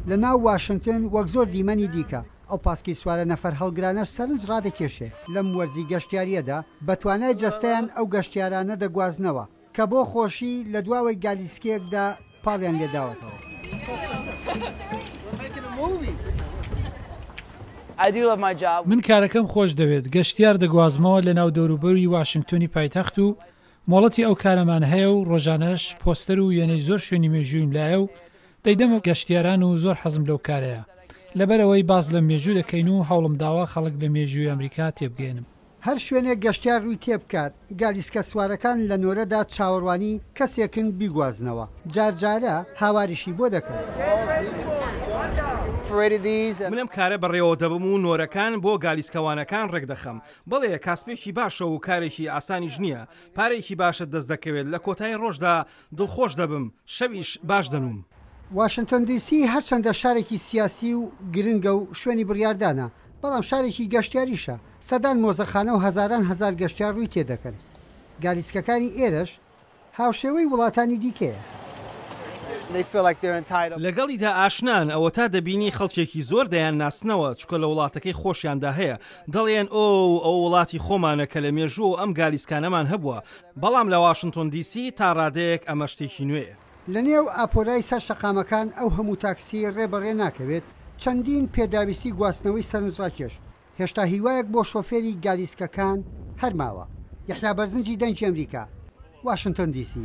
لە ناو واشنتن وەک زۆر دیمەنی دیکە، ئەو پاسکی سوارە نەفەر هەڵگرانەش سەرنج ڕادەکێشێ. لەم وەرزی گەشتیارییەدا بە توانای جەستەیان ئەو گەشتیارانە دەگوازنەوە، کە بۆ خۆشی لە دواوەی گالیسکەیەکدا پاڵیان لێ داوەتەوە. من کارەکەم خۆش دەوێت، گەشتیار دەگوازمەوە لە ناو دەوروبەروی واشنتنی پایتەخت و مۆڵەتی ئەو کارەمان هەیە و ڕۆژانەش پۆستەر و وێنەی زۆر شوێنی مێژوویم لایە و دەیدەمە گەشتیاران و زۆر حەزم لەو کارەیە لەبەرەوەی باس لە مێژوو دەکەین و هەوڵم داوە خەڵک لە مێژووی ئەمریکا تێبگەیەنم. هەر شوێنێک گەشتیار ڕووی تێبکات، گالیسکەسوارەکان لە نۆرەدا چاوەڕوانی کەسێکن بیگوازنەوە، جارجارە هاواریشی بۆ دەکەن. من ئەم کارە بەڕێوەدەبەم و نۆرەکان بۆ گالیسکەوانەکان ڕێکدەخەم، بەڵێ کاسپێکی باشە و کارێکی ئاسانیش نییە، پارەیەکی باشت دەست دەکەوێت، لە کۆتایی ڕۆژدا دڵخۆش دەبم، شەویش باش دەنووم. واشنتۆن دی سی هەرچەندە شارێکی سیاسی و گرنگە و شوێنی بڕیاردانە، بەڵام شارێکی گەشتیاریشە، سەدان مۆزەخانە و هەزاران هەزار گەشتیار ڕووی تێدەکەن. گالیسکەکانی ئێرەش هاوشێوەی وڵاتانی دیکەیە. لەگەڵیدا ئاشنان، ئەوەتا دەبینی خەڵکێکی زۆر دەیانناسنەوە، چونکە لە وڵاتەکەی خۆشیاندا هەیە، دەڵێن ئۆو ئەوە وڵاتی خۆمانە کە لە مێژووەوە ئەم گالیسکانەمان هەبووە، بەڵام لە واشنتۆن دی سی تا ڕادەیەک ئەمە شتێکی نوێیە. لەنێو ئاپۆرای سەر شەقامەکان ئەو هەموو تاکسی ڕێ بە ڕێ ناکەوێت، چەندین پێداویستی گواستنەوەی سەرنجڕاکێش، هێشتا هیوایەک بۆ شۆفێری گالیسکەکان هەر ماوە. یەحیا بەرزنجی دەنگی ئەمریکا، واشنتۆن دی سی.